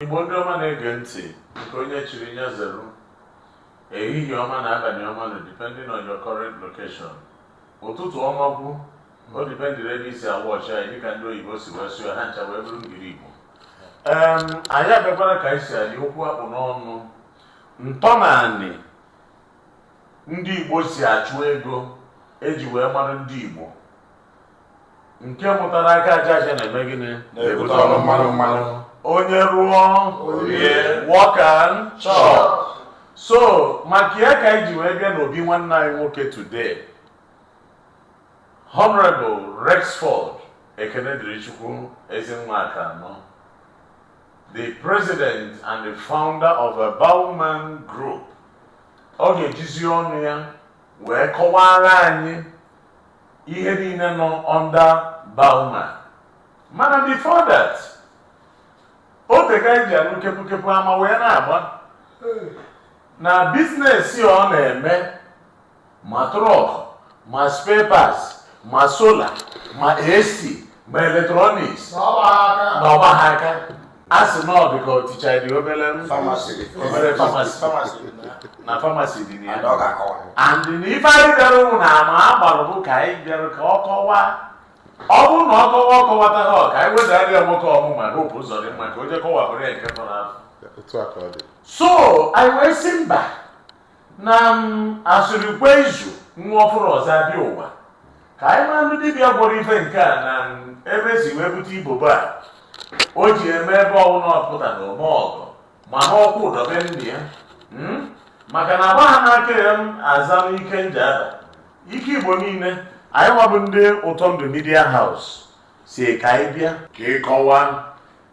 Igbo ndị ọma na-ege ntị nke onye chiri nya zere ehihie ọma nụ abalị ọma nụ depending on your current location ụtụtụ ọma bụ o dipendịrị ebe i si a-watch anyị dịka ndị oyibo si wee sụọ ha ncha wee bụrụ ngiri igbo em anyị abịakwara ka anyị si anyị okwu akpụ n'ọnụ ntọnaanị ndị igbo si achụ ego eji wee mara ndị igbo nke pụtara aka aja aja na-eme gịnị na-ebute ọnụ mmanụ mmanụ onye rụọ o rie work and chop so maka ya ka anyị ji wee bịa n'obi nwanne anyị nwoke today honorable rexford ekene dịrị chukwu ezi nwa aka anọ the president and the founder of a bowman group ọ ga-ejizi ọnụ ya wee kọwara anyị ihe niile nọ under bauma mana before that o teka e ji anụ kepukepu ama wee na-agba na business ọ na-eme ma truck ma spare parts ma solar ma ac ma electronics na ọ gbaha aka a sị na ọ dị ka ọchịcha dị obere na famasi dị na ya and na ife anyị bịara ụmụ na ama a gbara bụ ka anyị bịara ka ọ kọwaa ọ bụrụ na ọ kọwa ọ kọwataha ka anyị wedara ya nwoke Omuma Hope Uzodimma ka o jee kọwapụrụ ya nke fọrọ afọ so anyị wee sị mba na a sịrị kwe izu nwa ọ fụrụ ụzọ abịa ụwa ka anyị ma ndị dibịa gwọrọ ife nke a na ebe e si wee bute ibobo a o ji eme ebe ọbụla ọ pụta na o me ọgọ ma n'Okwudor be nne ya hmm? maka na agba ha n'aka ya m aza m ike Njaba ike igbo niile anyị nwabụ ndị ụtọ ndụ media house sị ka anyị bịa ka ị kọwa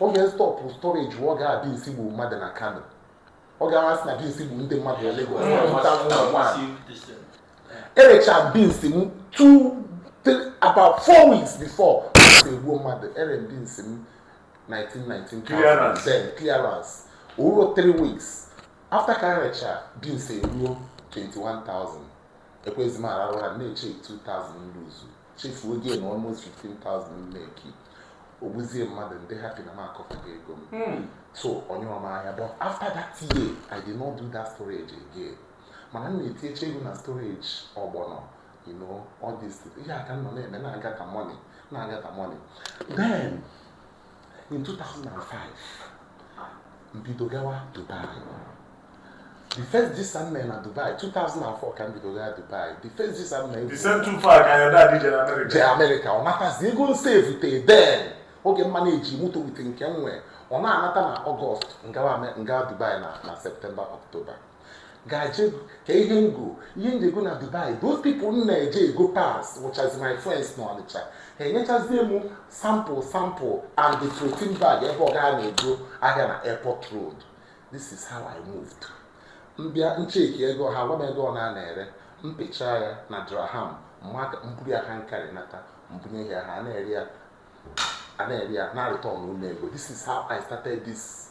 oge stọpụ storage wụ oge ahụ beans gburu mmadụ na Kano oge ahụ a sị na beans gburu ndị mmadụ na Lagos na 2001 erecha m beans m two three about four weeks before beans egbuo mmadụ ere m beans m 1919 clearance o ruro three weeks after ka erecha beans eruo 21,000 ekwezi m ararụ ụra na-eche 2,000 m luzu chefuo gain almost 15,000 m meki o gbuzie mmadụ m dị happy na m akọtago ego m hmm. so onye ọma ahịa but after that year i did not do that storage again mana m na-etinyecha ego na storage ọgbọnọ you know all this ihe aka nọ na-eme na-agather money na-agather money then in 2005 m bido gawa dubai the first visa m mere na dubai 2004 ka m bido gawa dubai the first visa m mere the same two four ka ya dadị jere amerịka jee amerịka ọ natazi ego m sevute then oge m manage moto with nke m nwee ọ na-anata na ọgọst m gawa Ame- m gawa dubai na na septemba ọktoba gaje ka ihe m go ihe ndị ego na dubai those people m na-eje ego parts wụchazi my friends na ọnịcha ha enyechazie m sample sample and the protein bag ebe ọ gaa na-ego ahịa na airport road this is how i moved m bịa cheki ego ha gwa m ego ọ na a na-ere m pịcha ya na dirham m buru ya hand carry nata m bunye ya ha na-ere ya a na-ere ya na-areturnụrụ m ego this is how i started this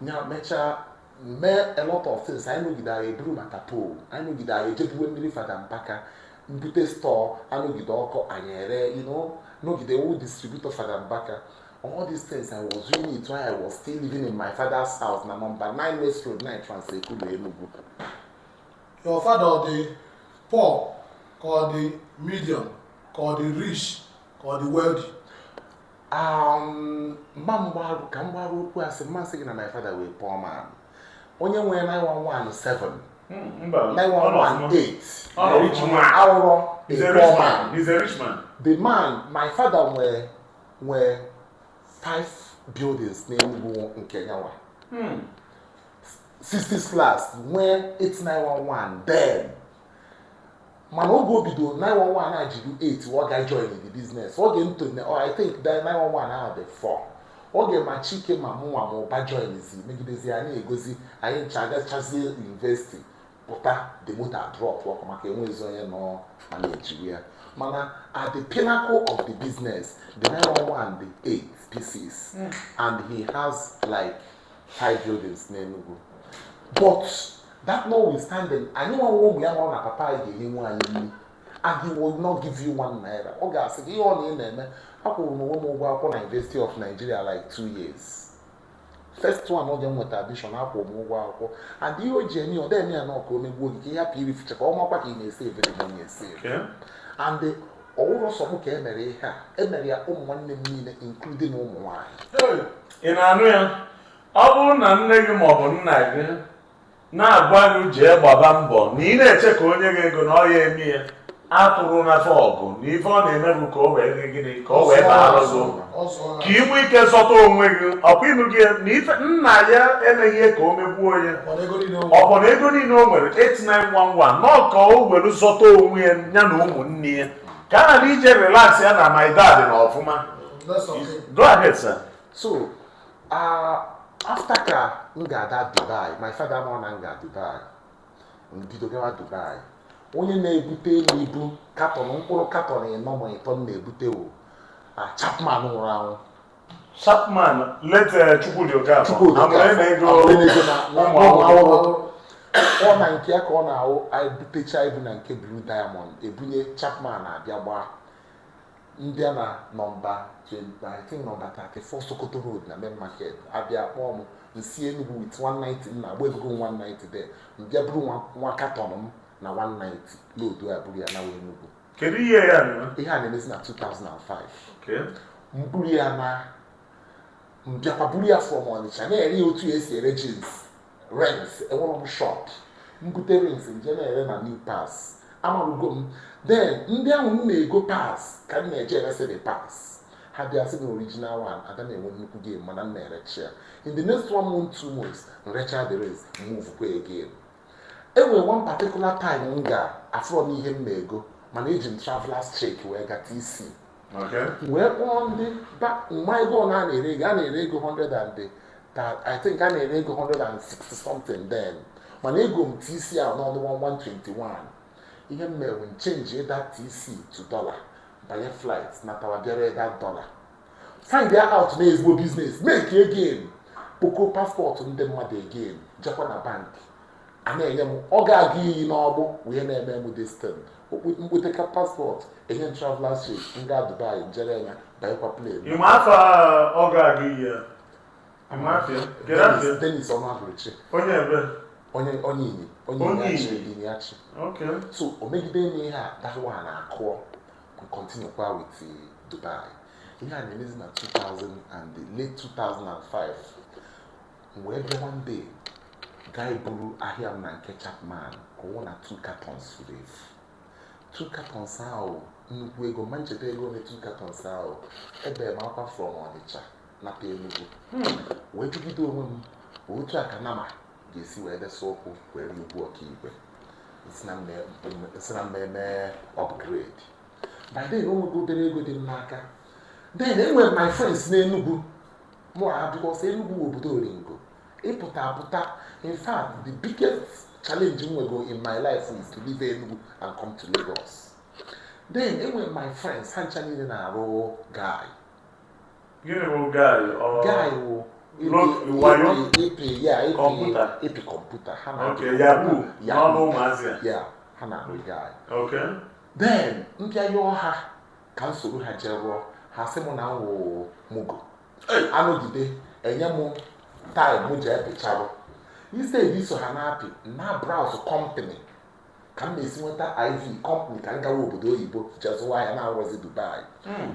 nya mechaa mee a lot of things anyị nọgide anyị eburu ma tapol anyị nọgide anyị ejebuwe mmiri fada mbaka m bute stọọ anọgide ọkụ anyị ere you know nọgide wụ distributor fada mbaka all these things i was doing it while i was still living in my father's house na number 9 west road 9 transekulu enugu your father ọ dị poor ka ọ dị medium ka ọ dị rich ka ọ dị wealthy Um, mma mgbarụ ka m gbarụ okwu asị m ma sị gị na my father wụ a poor man onye nwere 911 918 awụrọ the man my father nwere nwere five buildings n'Enugu nke nyawa 60 hmm. flats nwee 8 911 then mana oge o bidoro 911 adịrọ 8 ọ ga join the business oge ntone oh, I think the 911 ahụ dị 4 oge ma chike ma mụnwa ma ụba joinzi megidezi anyị egozi anyị ncha agachazie yunivesiti pụta the moto dropụkwa maka enwezi onye nọ manejiri ya mana at the pinnacle of the business the 911 dị 8 pieces mm. and he has like five buildings n'Enugu but that notwithstanding anyịnwa wụ ụmụ ya nọrọ na papa anyị ga-enyewa anyị nri and he will not give you one naira ọ ga-asị gị ihe ọ na ị na-eme akwụrụ m onwe m ụgwọ akwụkwọ na University of Nigeria like two years first one oge m nweta admission akwụrụ m ụgwọ akwụkwọ and ihe o ji eme ọ dịghị ya na ọ ka o megbuo gị ka ị hapụ irifucha ka ọ makwa ka ị na-esave every money esave and ọ wụrọ sọ m ka e mere ihe a e mere ya ụmụ nwanne m niile including ụmụ nwaanyị ị na-anụ ya ọ bụrụ na nne gị maọbụ nna gị na-agwa gị jee gbaba mbọ na ị na-eche ka o nye gị ego na ọ ya eme ya atụrụ n'afọ ọgụ na ife ọ na-eme bụ ka o wee gị gịnị ka o wee baara gị uru ka ị nwee ike zọta onwe gị ọkwa ị nụgo na ife nna ya emeghị ihe ka o megbuo ya ọ bụ na ego niile o nwere 8 911 na ọ ka o were zọta onwe ya ya na ụmụnne ya ka a na ije relax ya na my dad na ọfụma That's okay. Go ahead, sir. So, uh, after ka m ga that Dubai, my father nụrụ na m ga Dubai, m bido gawa Dubai. Onye na-ebutelu m ibu katọn mkpụrụ katọn ịnọ ma ịtọ m na-ebute wụ ah, Chapman nwụrụ anwụ. Chapman late eh, Chukwudi Okafor. Chukwudi Okafor. Ọ na nke ya ka ọ na-awụ anyị butecha ibu na nke Blue Diamond ebunye Chapman a bịa gbaa. ndị a na nọmba 29 nọmba 34 Sokoto Road na main market a bịa kpọọ m m si Enugu with 190 m na-agba egogo m 190 then m bịa buru nwa katọn m na 190 load ya buru ya nawa Enugu kedu the year ihe a na-emezi na 2005 m buru ya naa m bịakwa buru ya from Ọnịcha na-ere ya otu e si ere jeans rings enwere m shop m bute rings m je na-ere na new parts amarugo m then ndị ahụ m na-ego parts ka m na-eje eresi the parts ha bịa sị na original one ada na-enwe nnukwu gain mana m na-erecha ya in the next one month two months m recha the rings move kwa again e nwere one particular time m ga afụrọ m ihe m na-ego mana eji m travelers check wee ga TC wee kpọọ ndị m ma ego ole a na-ere ego a na-ere ego 100 and I think a na-ere ego 160 something then mana ego m TC ahụ n'ọnụ 121 ihe m mere m change that TC to dollar banye flight natawa bịa ree that dollar find ya out na ezigbo business make gain kpoko passport ndị mmadụ again jekwa na bank a na-enye m Ọga Agụiyi n'ọgbụ wee na-eme m this thing m kpoteka passport enye m travelers check m ga Dubai m je ree ya banyekwa plane Ị ma afa Ọga Agụiyi a? Ị ma afa ya? Kee afa ya? Dennis Ọnụagụrụchi Onye ebe? onye onye Inyi onye Onye Inyi Achị Inyi. Inyi Achị Ok. so o megide m ihe a that one akụọ continue kwa with the Dubai ihe a na-emezi na 2000 and the late 2005 wee bịa one day gaa iburu ahịa m na nke Chapman ka ọ wụ na two cartons furu efu two cartons ahụ nnukwu ego m ma echeta ego ole two cartons ahụ ebe m akwa from Ọnịcha nata Enugu wee jụgide onwe m ma otu a ka nama ga-esi wee desa ụkwụ wee rie ugwu ọkaigwe sị na m me- m me- sị na m mee upgrade by then o nwego obere ego dị m n'aka then e nwere my friends n'Enugu mụ na ha dị because Enugu bụ obodo oringo ịpụta apụta in fact the biggest challenge m nwego in my life is to leave Enugu and come to Lagos then e nwere my friends ha ncha niile na-arụ guy Gịnị bụ guy? Ọ guy wụ Lo- wayo? ịpị ya ịpị Kọmputa? ịpị kọmputa ha na Okay, Yahoo. Yahoo. N'ọnụ ụmụazị a. ya ha na-arụ guy Okay. then m bịa yọọ ha ka m soro ha jee rụọ ha sị m na m wụ mugu anọgide enye m time m ji epecharụ instead iso ha na-apị na browse company ka m na-esi nweta iv company ka m gawa obodo oyibo je zụwa ahịa na-awụrọzi dubai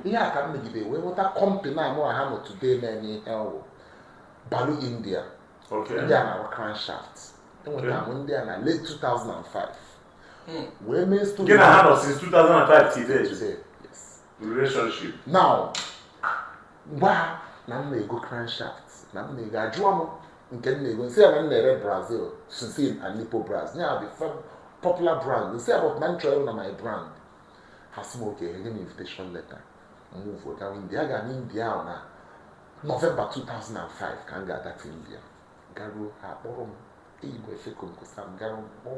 ihe a ka m megide wee nweta company a mụ na ha nọ today na-eme ihe ọ wụ balu india Okay. ndị a na-arụ crankshaft enwetara m ndị a na late 2005 hmm. wee mee story gị na ha nọ since 2005 till date relationship now gwa na m na-ego crankshaft na m na-ego ajụọ m nke m na-ego m sị ya na m na-ere brazil susin and nipo braz ya bụ popular brand m sị ya but na m chọrọ na my brand ha sị m okay enye m invitation letter move gawa india ga na india ahụ na november 2005 ka m ga-adata india garuo ha akpọrọ m igwe fekonkosa m gara mkpọ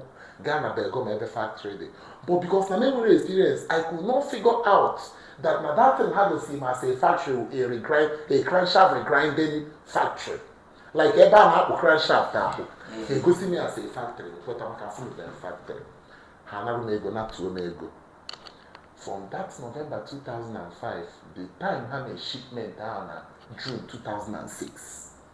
gaa na belgaum ebe factory dị but because na m enwerọ experience i could not figure out that na that thing ha gosi m as a factory a regrind a crankshaft regrinding factory like ebe a na-akpụ crankshaft ahụ ha egosi m ya as a factory kweta maka afụberọ m factory ha anarụ m ego natuo m ego from that november 2005 the time ha na shipment ahụ na june 2006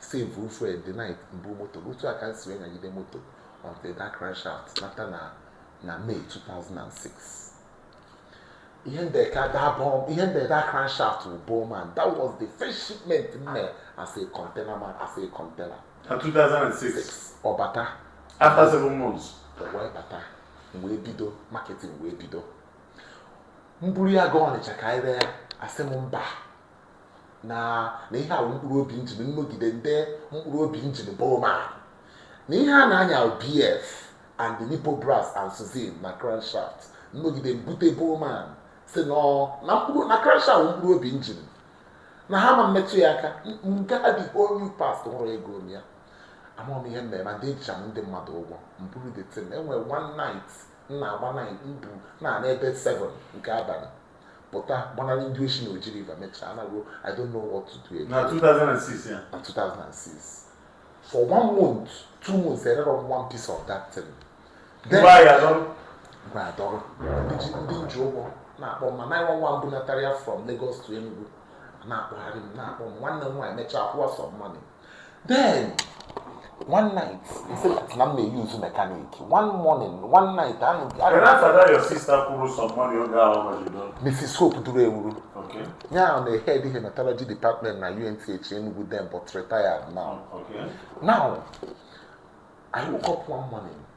save fuel the night mbụ moto otu a ka m si wee nyagide moto until that crankshaft nata na na May 2006 ihe m dere that bom ihe m dere na crankshaft bụ bowman and that was the first shipment m mee as a container man as a container na 2006 ọ bata after seven months wee bata wee bido marketing wee bido m buru ya gaa ọnịcha ka anyị ree a sị m mba na na ihe a wụ mkpụrụ obi njin m nọgide m dee mkpụrụ obi njin bowman na ihe a na-anya bf and the nipo brass and susin na crankshaft m nọgide m bute bowman a sị na na mkpụrụ na crankshaft mkpụrụ obi njin na ha ama mmetụ ya aka nke a dị onye past hụrụ ego ya amarọ m ihe m na-eme ma ndị ejicha m ndị mmadụ ụgwọ m buru the thing enwere one night m na-agba night m bu na n'ebe 7 nke abalị pụta gbanarị ndị oshi na oji river mechaa naruo i don't know what to do again. na 2006 ya na 2006 for one month two months ererọ m one piece of that thing then ngwa ya dọrọ mgbe adọrọ ndị ji ndị m ji ụgwọ na-akpọ m ma 911 bunatara ya from Lagos to Enugu na-akpọgharị m na-akpọ m nwanne m nwaanyị mechaa kwụwa some money then one night he said na m na-eyi uzu mekanik one morning one night anụ mrs hope duru ewuru ya ọ na-ehed hematology department na UNTH Enugu then but retired now now I woke up one morning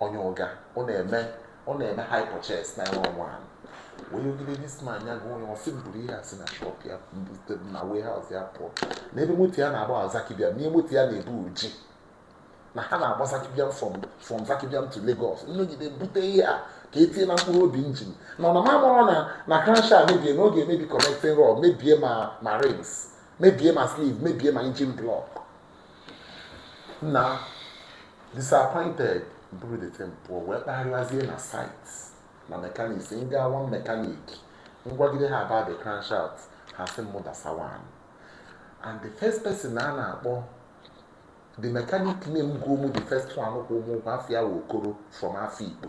onye Uga ọ na-eme hire purchase 911 wee yọgide this man ya gụọ onye ọ sị m buru ihe a si na shop ya m bute na warehouse ya pụọ na ebe moto ya na-agba Zaki Biam na ihe moto ya na-ebu ọ ji na ha na-agba Zaki Biam from Zaki Biam to Lagos nnọgide bute ihe a ka e tinye na mkpụrụ obi engine na ọ na m amarọ na na crankshaft mebie na ọ ga-emebi connecting rod mebie ma rings mebie ma sleeve mebie ma engine block na disappointed buru the thing pụọ wee kpagharịwazie na site na mechanics m gaa one mechanic m gwagide ha about the crankshaft ha sị mụ desa one and the first person a na-akpọ the mechanic name go mụ the first one kwụ mụ ụgwọ afa ya wụ Okoro from Afikpo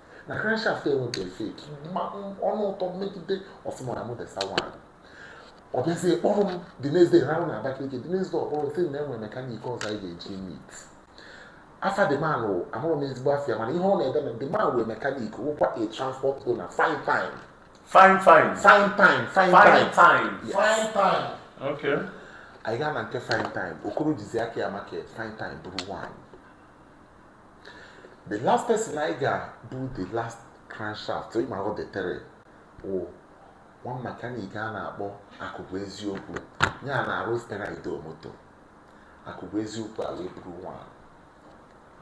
na crankshaft enweghị fake ọnụ ụtọ megide ọ sị m na mụ desa one ọ bịazie kpọrọ m the next day rahụ na Abakaliki the next day ọ kpọrọ sị na e nwere mechanic ọzọ anyị ga-eje meet afa the man amarọ m ezigbo afa ya mana ihe ọ na-ede na the man wụ mechanic wụkwa a transport owner Fine Time okay anyị gaa na nke Fine Time Okoro jizi aka ya market Fine Time buru one the last person anyị ga-bụ the last crankshaft ịma ọ detere wụ one mechanic a na-akpọ Akụbụeziokwu ya na-arụ Spera in Deo moto Akụbụeziokwu ewee buru one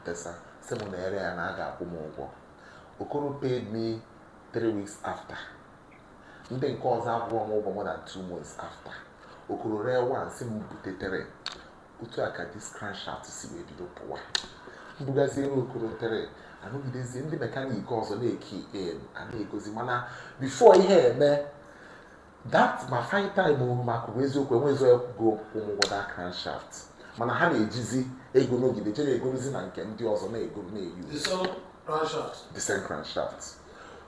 desa sị m na e ree ya na a ga-akwụ m ụgwọ Okoro paid me three weeks after ndị nke ọzọ akwụọ m ụgwọ more than two months after Okoro ree one sị m butetere otu a ka this crankshaft si wee bido pụwa m bugaziere Okoro tere anọgidezie ndị mechanic ọzọ na-ekey in a na-egozi mana before ihe eme that ma Fine Time o ma Akụbụeziokwu enweghịzi onye kwụgo mụ ụgwọ that crankshaft mana ha na-ejizi ego nọgide je na-egorozi na nke ndị ọzọ na-ego na-euse the same crankshaft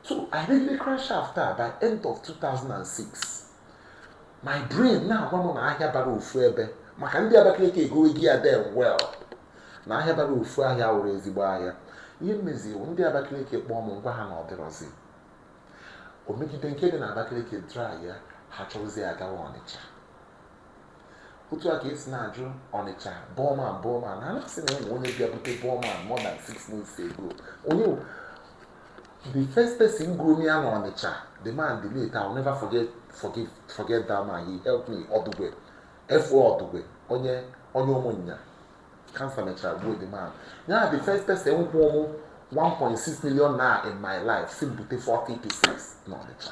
so e regide crankshaft a by end of 2006 my brain na-agwa m na ahịa bara ofu ebe maka ndị Abakaliki egowego ya very well na ahịa bara ofu ahịa wụrụ ezigbo ahịa ihe m mezi wụ ndị Abakaliki kpọọ m m gwa ha na ọdịrọzi o megide nke dị na Abakaliki dry ya ha chọrọzie ya gawa Ọnịcha otu a ka e si na-ajụ Ọnịcha Bowman Bowman ha na-asị na e nwee onye bịa bute Bowman more than six months ago onye the first person goro m ya na Ọnịcha the man the late I will never forget that man he helped me Ọdụgwe F.O. Ọdụgwe onye Ụmụnya cancer mechara gbuo the man ya the first person kwụọ mụ 1.6 million naira in my life sị bute 40 pieces na Ọnịcha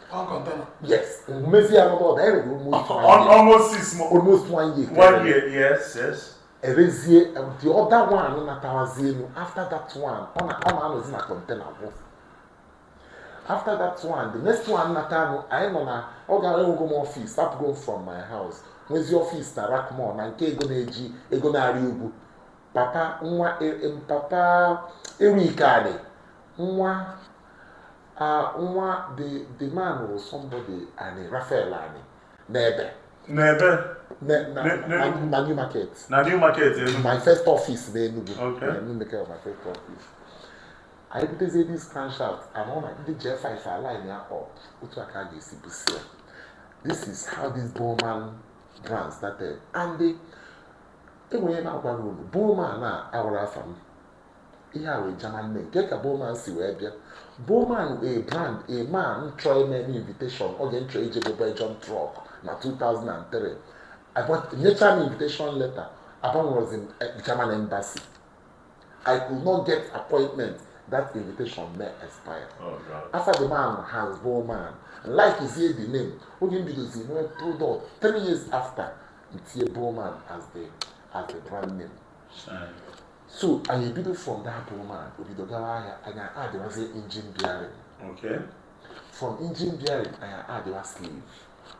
One container. Yes. Maybe I'm about there is almost one year. Almost six months. Almost one year. One year, yes, yes. Erezie, um, the other one na Tawazienu, after that one, on a on a no na container wo. After that one, the next one na Tano, I no na ọ ga go go office, stop going from my house. Nwezi office na Rackmore na nke ego na-eji ego na-arị ugwu. Papa nwa e, e, papa Erika nwa Ah, nwa the the man was somebody Ani Raphael Ani n'ebe. n'ebe. na new market. na new market Enugu. my first office n'Enugu. okay na new market was my first office. I anyị butezi this crankshaft and ọ na ndị J5 line ya up otu aka a ga-esi busi ya. this is how this Bowman brand started and enwere na-agwa unu Bowman a awụrọ afa m ihe a wụ German name kee ka Bowman si wee bịa Bowman a brand a man chọ ime m invitation oge m chọ ije bu Belgium truck na 2003 nyecha m invitation letter agbanwerozi m eh, German embassy I could not get appointment that invitation mee expire oh, afa the man has Bowman likeizie the name oge m bidozi nwee product three years after m tie Bowman as the as the brand name so anyị ebido from that Bowman o bido gawa ahịa anyị addịwazie engine bearing okay. from engine bearing anyị addịwa sleeve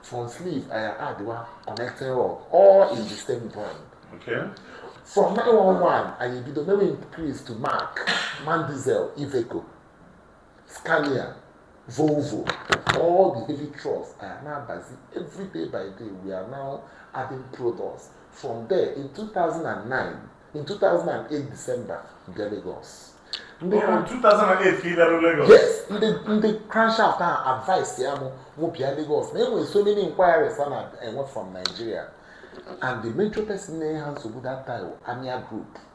from sleeve anyị addịwa connecting rod all in the same brand okay. from 911 anyị ebido mewe increase to Mack MAN diesel Iveco Scania, Volvo, all the heavy trucks anyị na-abazi. Every day by day, we are now adding products. From there, in 2009, in 2008 December, bịa Lagos. Ndị Ọ bụ 2008 ka ị bịara Lagos. yes ndị ndị crankshaft ahụ adviceịa mụ mụ bịa Lagos na enwere so many inquiries ha na-enwe from Nigeria and the major person na-enye ha nsogbu that time wụ Amia group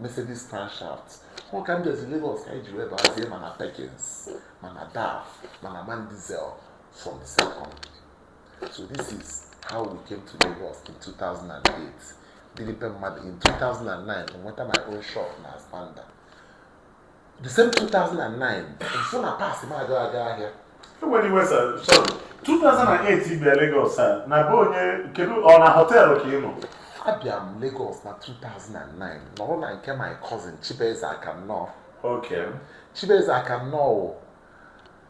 Mercedes crankshaft ọ ka m bịazi Lagos ka anyị ji wee bazie ma na Perkins ma na DAF ma na MAN diesel from the same company so this is how we came to Lagos in 2008 dịrị be mmadụ in 2009 nweta my own shop na ASPAMDA The same 2009 m fụ na parts m aga aga ahịa ewena iwe sir sorry 2008 bịa Lagos a na be onye kedu ọ na họteelụ ka ị nọ abịa m Lagos na 2009 nọrọ na nke my cousin Chibueze Akannọọ okay Chibueze Akannọọ wụ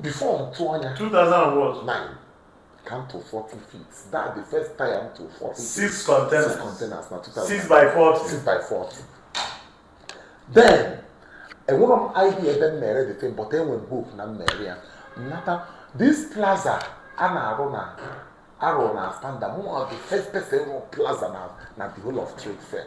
before m tụ ọ na 2009 ka m tụ 40 feet that the first time m tụ 40 six containers six containers na 2000 six by 40 six by 40 then enwerọ m idea ebe m ga-ere the thing but enwe m hope na m ga-ere ya m nata this plaza a na-arụ arụ na ASPAMDA m wụ the first person rụrụ plaza na na the whole of trade fair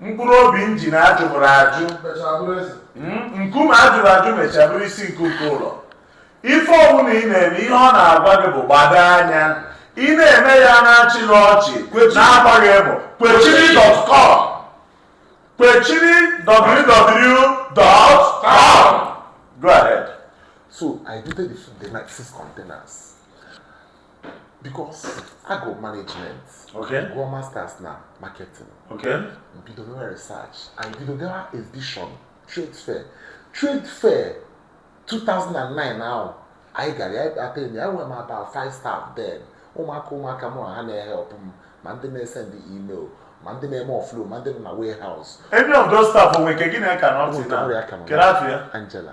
mkpụrụ obi injin a jụbụrụ ajụ hmm? nkume a jụrụ ajụ mechaa bụrụ isi nkuku ụlọ ife ọbụla ị na-eme ihe ọ na-agwa gị bụ gbado anya ị na-eme ya a na-achị na ọchị na-agbaghị emo kwechiri dot com kwechiri www.com go ahead so i did the, the night six containers because agụrụ m management. Okay. Gụọ masters na marketing. Okay. Bido mewe research. And bido gawa exhibition, trade fair. Trade fair 2009 ahụ anyị gara. I think enwe m about five staff then. Ụmụaka ụmụaka mụ na ha na-ehelp m ma ndị na-esend email ma ndị na-eme offload ma ndị nọ na warehouse. Any of those staff o nwe nke gị na ya ka nọ till now? Kedụ afa ya? Angela.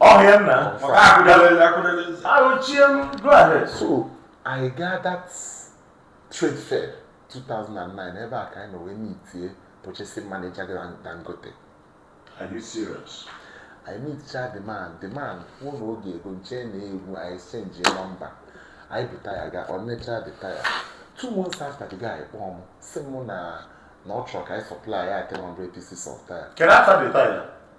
ọhịa nna ahụchie m go ahead so anyị gaa that trade fair 2009 ebe a ka anyị nọ wee mitie purchasing manager dangote are you serious anyị miticha the man the man kwuo na ọ ga-ego m chee na egwu anyị exchange nọmba anyị buru taya gaa o nechaa the taya two months after the guy kpọọ m sị mụ na ọ chọrọ ka anyị supply ya 300 pieces of taya kedu afa the taya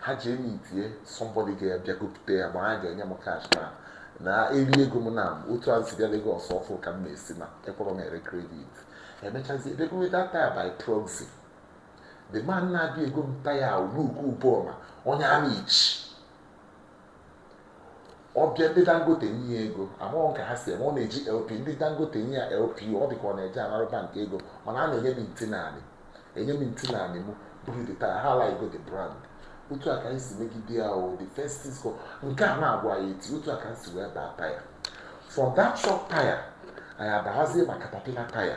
ha jee mitie somebody ga-abịa gopụta ya ma ha ga-enye m cash na na eri ego m na otu a si bịa Lagos ọfụụ ka m na-esi na ekwerọ m ere credit emechazi ego that taya by proxy the man na-abịa ego m taya luku ụbọma onye Amichi ọ bịa ndị dangote nye ya ego amarọ m ka ha si eme ọ na-eji lp ndị dangote nye ya lp ọ dị ka ọ na-eje anara bank ego mana a na-enye m nti naanị enye m nti naanị m buru the tire ha ala ego the brand otu a ka anyị si megide ya o the first six container agwụ ya eti otu a ka anyị si wee baa taya from that shop taya anyị abahazie ma caterpillar taya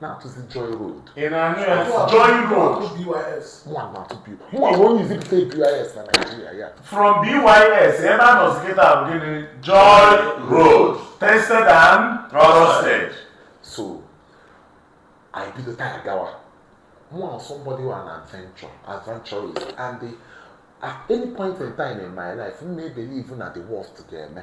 na-atụzi joy road ị na-anụ ya joy road mụnwa na-atụ bys mụnwa bụ onye izi bute bys na naijiria ya from bys ebe a nọzi kịta bụ gịnị joy road tested and trusted so anyị bido taya gawa mụnwa somebody wụ an adventure adventurist and the, at any point in time in my life m na-ebelieve na the worst ga-eme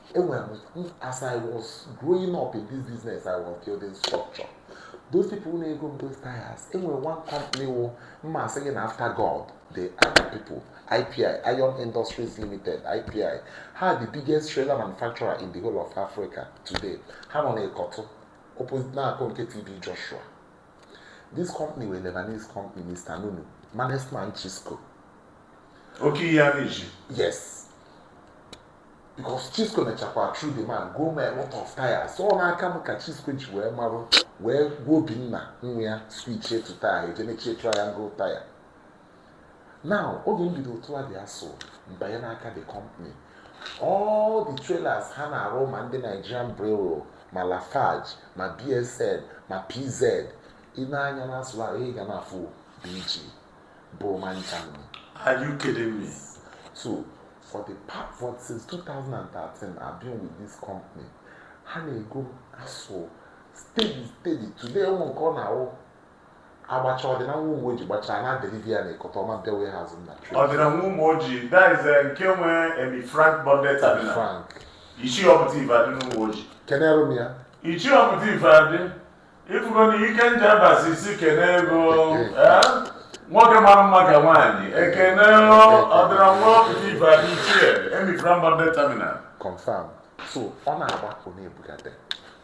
enwere m as i was growing up in this business i was building structure those people na-ego m those tires enwere one company wụ mma asị gị na after god the other people ipi iron industries limited ipi ha the biggest trailer manufacturer in the whole of africa today ha nọ na ịkọtụ opposite na-akọ nke tb joshua this company were lebanese company mr nunu management chisco Okay, yeah, Yes. because Chisco mechakwa through the man goo m a lot of tires so n'aka m ka Chisco ji wee marụ wee gwa Obinna nwa ya switchie to taya eje mechie triangle taya now oge m bido otu a dị asụ mbanye n'aka the company all the trailers ha na-arụ ma ndị Nigerian Brewery ma Lafarge ma BSN ma PZ ị nee anya n'azụ ha ị ga na-afụ BG Bowman Germany Are you kidding me? so for the past for since 2013 I've been with this company ha na-ego m asụ steady steady today even nke ọ na-awụ agbacha ọdịna nwa Ụmụoji gbachaa na-adeliver ya na Ikota ọma bịa warehouse m na trade ọdịna nwa Ụmụoji that is eh, nke nwe Emi Frank bonded terminal Frank ichie ọpụta ife adị n'Ụmụoji kenere m ya ichie ọpụta ife adị ifugo na ike nje abasi isi kene ego eh? nwoke mara mma ka nwaanyị ekene ọdịna nwa ọpụta ife adị ichie Emi Frank bonded terminal confirm so ọ na-agbapụ na-ebugata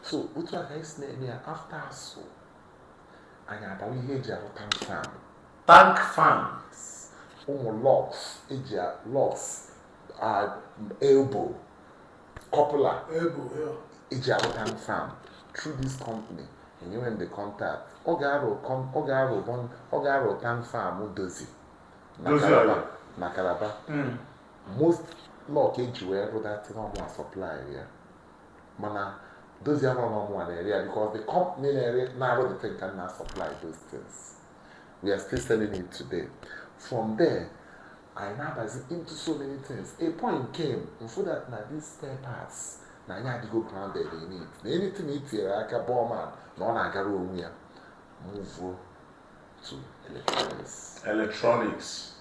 so otu a ka anyị si na-eme ya after asụ anyị abawa ihe eji arụ tank farm tank farm ụmụ locks eji locks elbow coupler eji arụ tank farm through this company enyewe m the contact ọ ga-arụ tank farm Dozzy na Calabar hmm. most lock eji wee rụ that thing ọ mụa supply ya mana Dozzy amarọ n'ọ mụa na-ere ya because the company na-ere na-arụ the thing ka m na supply those things we are still selling it today from there anyị na-abazi into so many things a point came m fụ that na these spare parts na anyị adịgo grounded in it na anything i tinyere aka bọọman na ọ na-agara onwe ya move to electronics electronics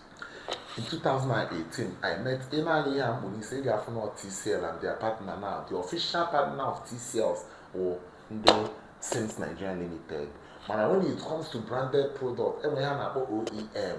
in 2018 i met ị nee anya ihe a m kpu n'isi ị ga-afụ na tcl and their partner now the official partner of tcls wụ ndị sims nigeria limited mana when it comes to branded product enwe ihe a na-akpọ oem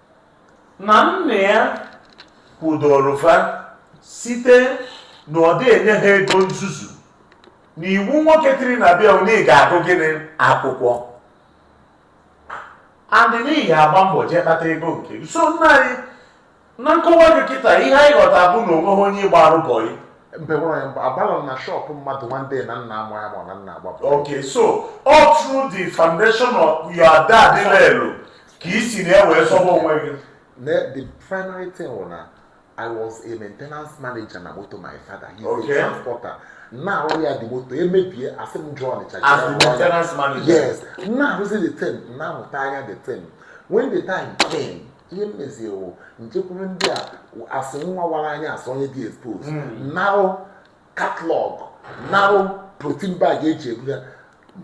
na nna ya kwudoro fa site na ọ dị enye ha ego nzuzu na iwu nwoke tiri na bịa na ị ga-agụrịrị akwụkwọ and then ị ga-agba mbọ jee kpata ego nke gị. so nna anyị na nkọwa gị kịta ihe anyị ghọta bụ na onweghị onye ị gbaara bọyị mba enwerọ ya mba agbarọ m na shop mmadụ nwanne na nna amụ ya ma ọ na nna agbapụ Okay, so all through the foundation of your dad Lelu, ka i si na ya wee sọba onwe gị Ne- the primary thing was na i was a maintenance manager na moto my father he is Okay. a transporter na-arụ ya the moto emebie asị m jee Ọnịcha as the jee Ọnịcha. maintenance manager yes na-arụzi the thing na-amụta anya the thing when the time came ihe m mezie wụ m jekwuru ndị a asị nwa wara anya asị onye dị expose Mm. narụ catalog narụ polythene bag eji ebu ya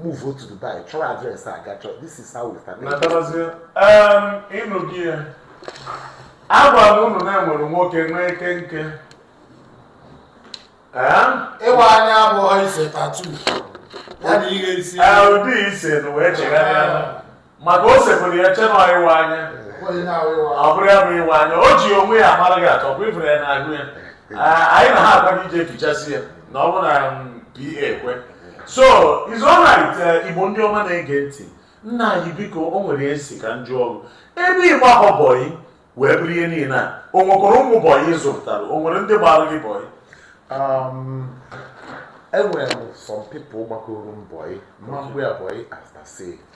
move to Dubai chọrọ address ha gaa chọrọ this is how we start ị nụgo ya agwa m unu na enwere nwoke nwee ike nke ịwa anya abụghị ise tattoo ya na ihe isi ụdị ise na wee chegharịa maka o sepụrụ ya che na ịwa anya ọ bụrụ ya bụ ịwa anya o ji onwe ya mara gị atọ bụ ifere ya n'ahụ ya anyị na ha agwa gị ije efichasị ya na ọ bụ na um, pa ekwe so it's alright uh, igbo ndị ọma na-ege ntị nna anyị biko o nwere ihe a sị ka m jụọ gị ebe ị gbara bọyị wee bụrụ ihe niile a o nwekwara ụmụ bọyị ị zụpụtara o nwere ndị gbara gị bọyị Um, enwere m some people gbagoro m bọyị mma mgbe ya bọyị asase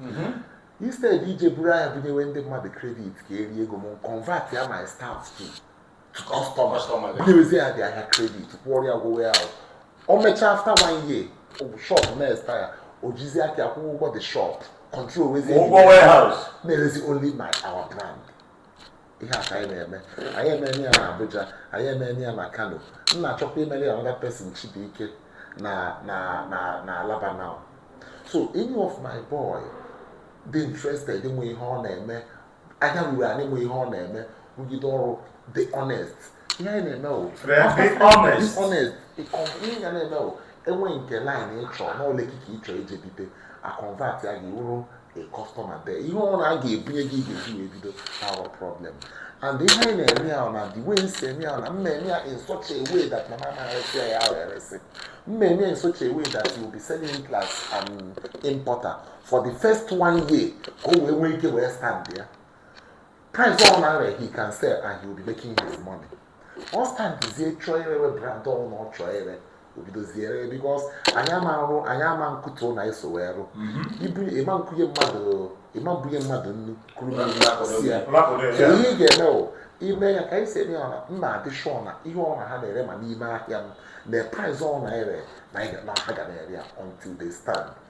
mm-hmm. instead ije buru ahịa bunyewe ndị mmadụ credit ka e rie ego m convert ya my staff to customer bunyewezi ya the ahịa credit kwụọrọ ya ụgwọ warehouse o mechaa after one year shop na-expire o jizi aka ya akwụkwa ụgwọ the shop control wezi na-erezi only my our brand ihe a ka anyị na-eme anyị emere ya na Abuja anyị emere ya na Kano m na-achọkwa imere another person Chibuike na na na na Alaba now so any of my boy dị interested inwe ihe ọ na-eme anya ruru anị nwe ihe ọ na-eme rụgide ọrụ dị honest ihe anyị na-eme o honest honest ihe ga na-eme o enweghị nke line ịchọ n'ụlọ ekike ịchọ ije bido a convert ya ga-abụrụ a customer there ihe ọ na a ga-ebunye gị ga-eji wee bido our problem and ihe anyị na-eme ya na the way m si eme ya na m na-eme ya in such a way that m ama na-eresi ya ya eresi m na-eme in such a way that you will be selling it as an importer for the first one year ka o wee nwee ike wee stand ya price ọ na-ere he can sell and he will be making his money ọ standzie chọọ irewe brand ọbụna ọ chọọ ire o bidozie ire because anyị ama arụ anyị ama nkụtu na eso wee rụ ibu ịma nkụnye mmadụ ị ma ebunye mmadụ nnu kụrụ mmiri si ya kedu ihe ị ga-eme o ime ya ka anyị si eme ya na m na-adị sure na ihe ọ na ha na-ere ma n'ime ahịa ma na price ọ na-ere na anyị ga- na ha ga na-ere ya until they stand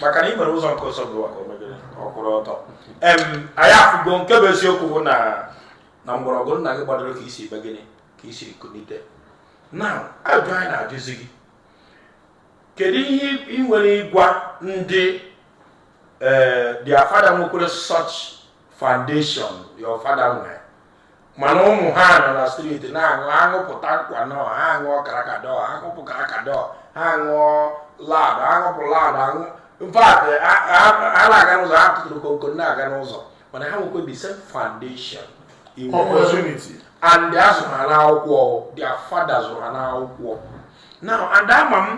maka na ị nwere ụzọ nke ọzọ bụ maka onwe gị ọ kwụrụ ọtọ em anyị afụgo nke bụ eziokwu bụ na na mgbọrọgwụ nna gị gbadoro ka i si mee gịnị ka i si kunite now ajụ anyị na-ajụzi gị kedu ihe ị nwere ịgwa ndị eh, their father nwekwere such foundation your father nwere mana ụmụ ha nọ na street na-aṅụ aṅụpụta nkwa nọ ha aṅụọ karakadọ ha aṅụpụ karakadọ ha aṅụọ loud aṅụpụ loud aṅụ in fact ha na-aga n'ụzọ ha tụtụrụ konko na-aga n'ụzọ mana ha nwekwa the same foundation opportunity and a zụrụ ha n'akwụkwọ their father zụrụ ha n'akwụkwọ now and ama m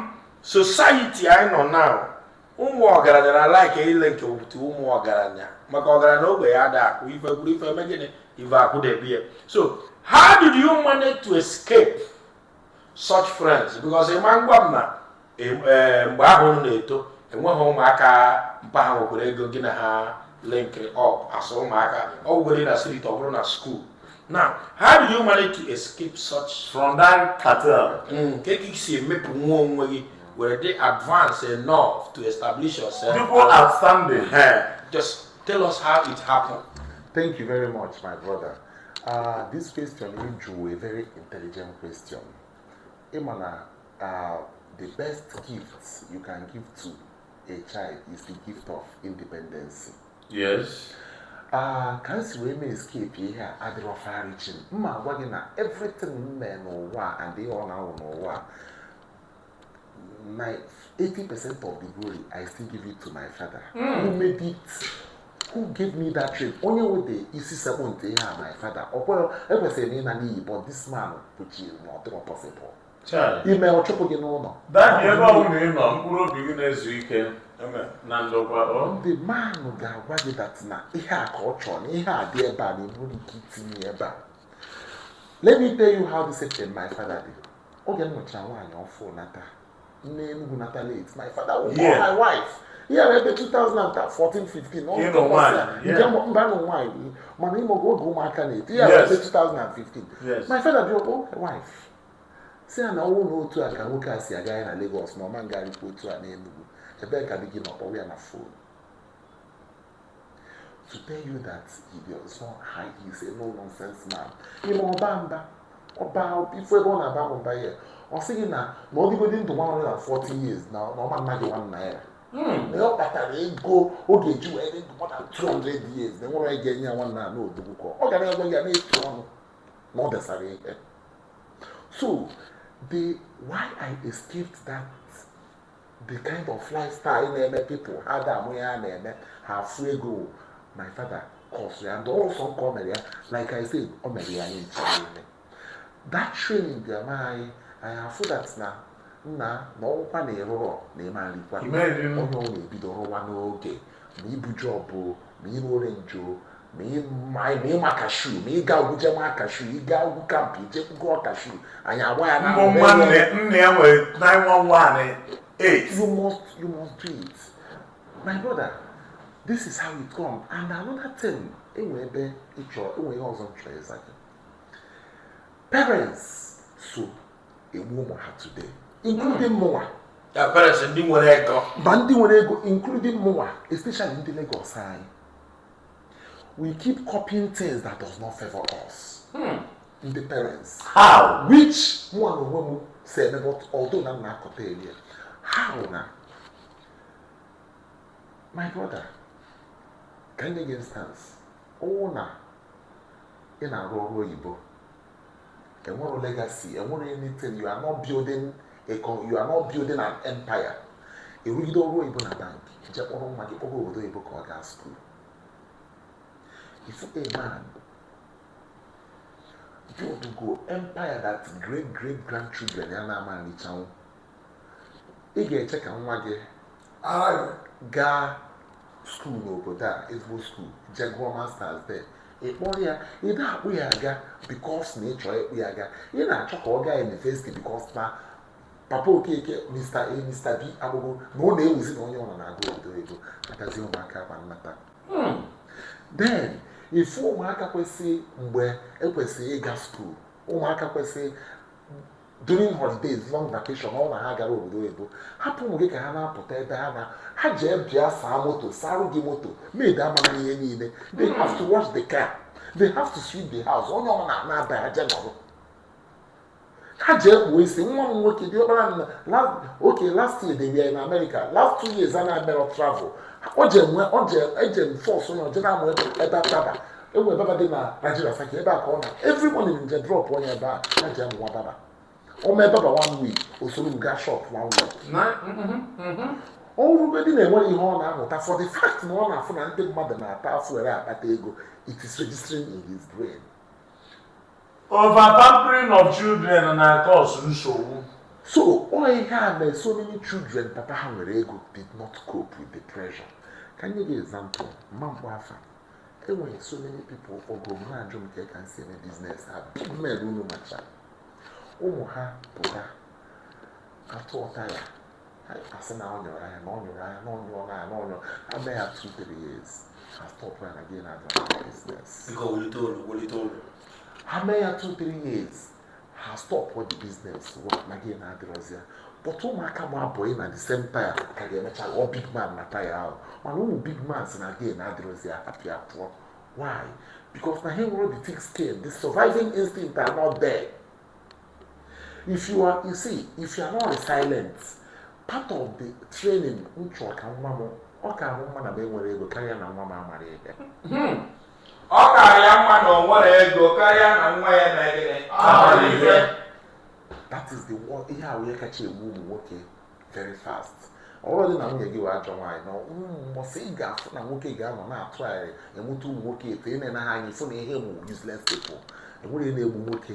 society anyị nọ now ụmụ ọgaranya na alike ịlink up to ụmụ ọgaranya maka ọgaranya ogbenye ada akụ ife kwụrụ ife eme gịnị ife akwụdebe ya so how did you manage to escape such friends because ịma ngwa m na e, e, mgbe ahụ unu na-eto enweghị ụmụaka mpa ha nwekwara ego gị na ha link up as ụmụaka ọ bụrụ na street ọ bụrụ na school now how did you manage to escape such from that cartel mm, ka ị si emepụ nwa onwe gị were dị advance enough to establish yourself. People are standing. Uh, just tell us how it happened. Thank you very much, my brother. Uh, this question you drew a very intelligent question. Imana, uh, the best gifts you can give to a child is the gift of independence. Yes. Uh, ka nsi wee mee escape ihe a adịrọ farichim mma agwa gị na everything m mee n'ụwa and ihe ọ na-awụ n'ụwa my 80 percent of the glory i still give it to my father mm. who made it who gave me that dream onye wede isi sekpụ nke ihe a my father ọ kwere ekwesịrị na ịna n'iyi but this man pụchiri na ọ dịrọ possible i mee ọ chụpụ gị n'ụnọ that ebe ọ bụla ị nọ mkpụrụ obi gị na-ezu ike na ndokwa the man ahụ ga-agwa gị that na ihe a ka ọ chọrọ na ihe a dị ebe a na enwere ike itinye ebe a let me tell you how this happened my father did oge m nụchara nwaanyị ọfụ nata na Enugu nata late my father will call my wife ya na ebe 2014 15 ọ nke mba nụ nwaanyị mana ịma oge ụmụaka na-eto ya na ebe 2015 my father bịa akpọ my wife sị ya na ọ wụ na otu a ka nwoke a si agarị na Lagos na ọ ma ngarịkwa otu a n'Enugu ebee ka di gị nọ kpọwa ya na phone to tell you that ibe ọzọ ha is a no nonsense man i mee ọ baa mba ọba ifu ebe ọ na-aba bụ mba ya ọ sị gị na na ọ dịgodi ndụ 140 years na ọ ma nna gị 1 naira na ọ kpatara ego ọ ga-eji wee dị ndụ more than 200 years na enwerọ onye ga-enye ya 1 naira n'odogwu ka ọ gara ego ya na-etu ọnụ na ọ desara ihe so the why I escaped that the kind of lifestyle na-eme people ha da ama ihe ha na-eme ha fụ ego my father cause ya and also nke o mere ya like i said o mere ya anyị nche niile that training dị ama anyị anyị afụ that na nna na ọkwa na ị rụrọ na ị ma nrikwa onye ọwụna ebido rụwa n'oge ma ibu job ma ịrọ orange ma ịma cashew ma ịga ogwuje ma cashew ịga ogwu camp ijekwu goo cashew anyị agba ya na nne ya nwere 911 8 you must you must do it my brother this is how it come and another thing enwe ebe ịchọ enwe ihe ọzọ m chọ ịza gị parents so egbu ụmụ ha today including hmm. mụnwa parents ndị nwerọ ego ma ndị nwere ego including mụnwa especially ndị Lagos anyị we keep copying things that does not favor us hmm. ndị parents how which mụ na onwe m si eme but although na m na-akọta early how na my brother ka m nye gị instance ọ wụ na ị na-arụ ọrụ oyibo i nwerọ legacy i nwerọ anything you are not building a you are not building an empire ị rụgide ọrụ oyibo na bank je kpọrọ nwa gị kpọrọ obodo oyibo ka ọ gaa school ị fụ a man build go empire that great great grandchildren ya na-ama nrichanwu ị ga-eche ka nwa gị gaa school n'obodo a ezigbo school je gụọ masters there ị kpọrọ ya ị na-akpụ ya aga because na ị chọọ ịkpụ ya aga ị na-achọ ka ọ gaa university because na papa okeke mr a mr b akpụgo na ọ na-ewuzi na onye ọbụna na-aga obodo oyibo agazi ụmụaka ama nnata hmm. then ị fụ ụmụaka kwesịrị mgbe ekwesịrị ịga school ụmụaka kwesịrị during holidays long vacation ọ na ha gara obodo oyibo hapụ ụmụ gị ka ha na-apụta ebe ha na ha jee bịa saa moto sarụ gị moto maid ama na-eme ihe niile they have to wash the car they have to sweep the house onye ọma na-aba aja nọrọ ha jee kpụọ isi nwa m nwoke dị ọkpara na oke last year they were in America last two years a na-emere travel o ji enwe o ji eje force ya ọ jee na-amụ ebe ataba e nwee barber dị na Nigeria faki ebe a ka ọ nọ every morning m je drop ya ebe a ọ jee amụwa barber ọ mụa ebe barber one week o soro m gaa shop one week mm-hmm, mm-hmm. ọ bụrụgodi na enwerọ ihe ọ na-amụta for the fact na ọ na-afụ na ndị mmadụ na-ata afụfụ were akpata ego it is registering in his brain overpampering of children na cause nsogbu so ọ ihe a na so many children papa ha nwere ego did not cope with the pressure ka m nye gị example m ma mkpọ afa enwere so many people ogo m na-ajụ m ka ị ka m si eme business ha big men unu macha ụmụ ha pụta atụọ taya ha asị na ọ nyụrụ anya na ọ nyụrụ anya na ọ nyụrụ anya na ọ nyụrụ ha mee ya two three years ha stop ya na gain adịrọ na business Biko wulite olu, wulite olu. ha mee ya two three years ha stọpụọ the business na gain adịrọzi ya but ụmụaka gba boy na the same taya ka ga-emecha ghọọ big man na taya ahụ mana ụmụ big man sị na gain adịrọzi ya apịa pụọ why because na ha enwerọ the thick skin the surviving instinct are not there if you are you see if you are not resilient part of the training m chọrọ ka nwa m ọ ka mụ mma na m enwerọ ego karịa na nwa m amarọ ihe hmm. ọ kara ya mma na o nwerọ ego karịa na nwa ya na gịnị amarọ ife that is the one ihe a wụ ihe kacha egbu ụmụ nwoke very fast ọ bụrọdị na nwunye gị wụ ajọ nwaanyị na mbọsị ị ga-afụ na nwoke ga-anọ na-atụ arịrị ị mụta ụmụ nwoke then ị na-ene ha anya ị fụ na ihe ị mụ useless people enwere ihe na-egbu nwoke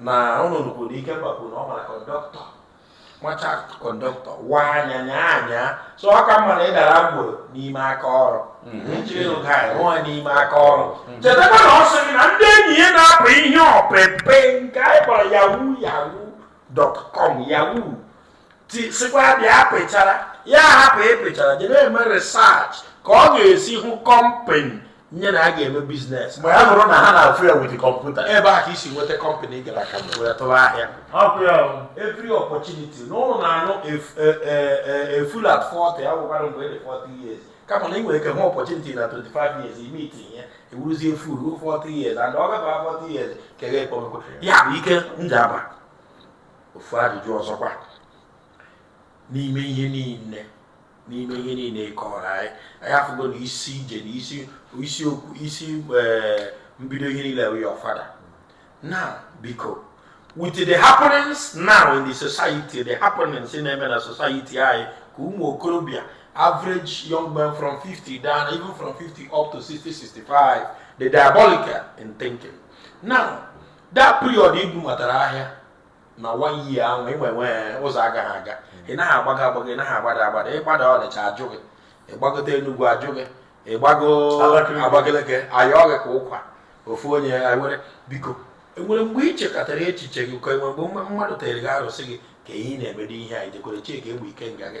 na ụlọ nnukwu na ike kwapụ na ọ mara conductor macha conductor wa anya nya anya so ọ ka mma na ị dara agboro n'ime aka ọrụ njiri ụga anyị rụọ n'ime aka ọrụ chetakwa na ọ sị gị na ndị enyi ya na-apị ihe ọpịpị nke anyị kpọrọ yahoo yahoo dot com yahoo sikwa bịa pịchara ya hapụ ịpịchara jee na-eme research ka ọ ga-esi hụ company nye na a ga-eme business mgbe ha hụrụ na ha na-afụ ya with computer ebe a ka isi nweta company gara aka wee tụwa ahịa every opportunity na unu na-anụ a fool at 40 ya bụkwara mgbe ị dị 40 years kama na ị nwere ike hụ opportunity na 25 years ime itinye ya ị wụrụzie a fool 40 years and ọ gaba 40 years kere ekpomekwe ya bụ Ike Njaba ofu ajụjụ ọzọkwa n'ime ihe niile n'ime ihe niile ị kọrọ anyị anyị afụgo na isi ije na isi isi okwu isi eh, mbido ihe niile bụ your father now biko with the happenings now in the society the happenings na-eme na society anyị ka ụmụ okorobịa average young men from 50 down even from 50 up to 60 65 dị diabolical in thinking now that period ibu matara ahịa na one year ahụ ịnwe nwe ụzọ agaghị aga ị naghị agbago agbago ị naghị agbada agbada ị gbada Ọnịcha a jụ gị ị gbagote Enugwu a jụ gị ị gbago Abakaliki a yọọ gị ka ụkwa ofu onye nwere biko e nwere mgbe i chekatara echiche gị ka e nwere mgbe mma- mmadụ tere gị arụsị gị ka ihe ị na-emedo ihe a ijekwere chika egbe ike nga gị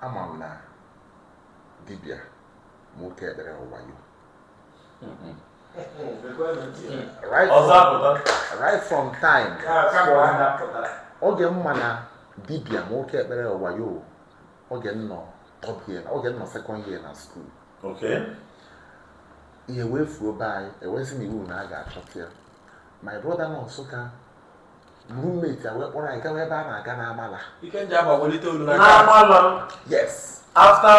ama m na dibịa ma oke ekpere wụ wayo right from time oge m ma na dibịa ma oke ekpere wụ wayo oge m nọ third year oge m nọ second year na school okay ihe wee fuo be anyị ewezi na iwu na a ga-achọta ya my brother nọ Nsụka roommate ya wee kpọrọ anyị gawa ebe a na-aga n'Amala n'Amala yes after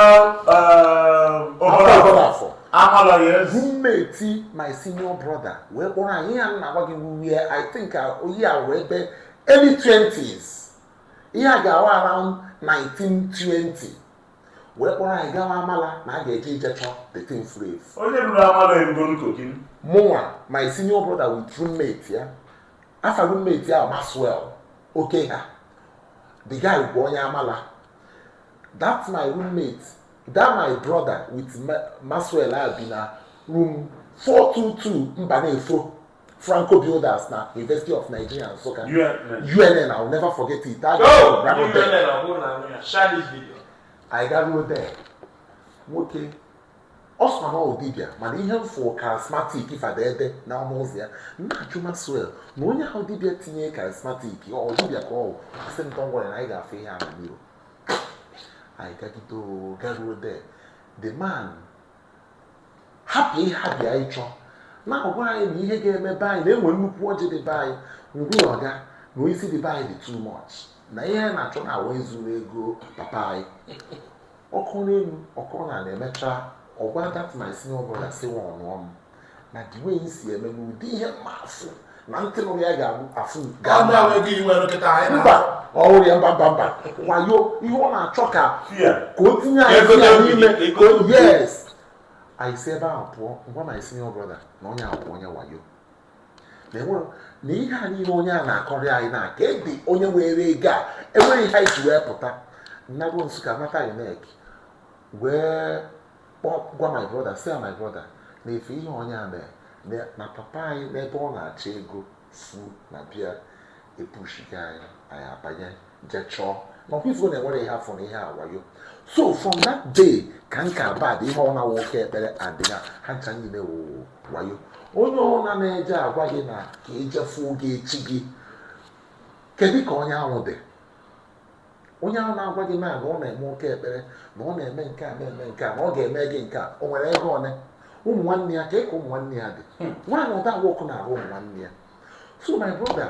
Obollo Afọ Amala yes roommate my senior brother wee kpọrọ anyị ihe a m na-agwa gị wụ ihe I think uh, ọ ya-awụ ebe early 20s ihe a ga-awụ around 1920 wee kpọrọ anyị gawa Amala na a ga-eje ije chọọ the thing furu efu onye ruru Amala erugo Kogi mụnwa my senior brother with roommate ya afa roommate ya wụ Maxwell Okeha the guy bụ onye Amala that my roommate that my brother with Maxwell ha bi na room 422 Mbanefo Franco Builders na University of Nigeria Nsukka UNN I will never forget it that guy oh, ran there I got there nwoke ọ sọ na ọ dibịa mana ihe m fụ charismatic fada ebe na ọnụ ụzọ ya m na-ajụ maxwell na onye a wụ dibịa tinye charismatic ọ dibịa ka ọ wụ asị m tọngwara na anyị ga-afụ ihe a na mirror anyị gagide oo garuo there the man hapụ ihe a bịa ịchọ na-agwa anyị na ihe ga-eme be anyị na e nwere nnukwu ọjị dị be anyị ngwa ọga na onye isi dị be anyị dị too much na ihe anyị na-achọ na awa e zuru ego papa anyị ọkụ n'elu ọkụ na na-emecha ọ gwa that my senior brother si nwa ọnụọ m na the way m si eme n'ụdị ihe m na-asị na ntị nụrụ ya ga-abụ afụ mba ọhụrụ ya mba mba mba wayo ihe ọ na-achọ ka ka o tinye anyị ya n'ime yes anyị si ebe ahụ pụọ m gwa my senior brother na onye ahụ bụ onye wayo na ihe a niile onye a na-akọrị anyị na kedu onye were ego a enweghị ihe anyị ji wee pụta m nago nsukka nata unec wee gwa my brother sị my brother na ị fụ ihe onye a mere na papa anyị n'ebe ọ na-achọ ego fu na bịa epushike anyị anyị abanye jee chọọ na ọkwa ị fụgo na enwerọ ihe a fụ na ihe a wụ wayo so from that day ka nka bad ihe ọ na-awụ oke ekpere adịna ha ncha niile wụ wayo onye ọna na-eje agwa gị na ka e je fụ oge echi gị kedu ka onye ahụ dị onye ahụ na-agwa gị na na ọ na-eme oke ekpere na ọ na-eme nke a na-eme nke a na ọ ga-eme gị nke a o nwere ego one ụmụ nwanne ya ka ịka ụmụ nwanne ya dị nwaanyị ndị nwoke na-arụ ụmụ nwanne ya so my brother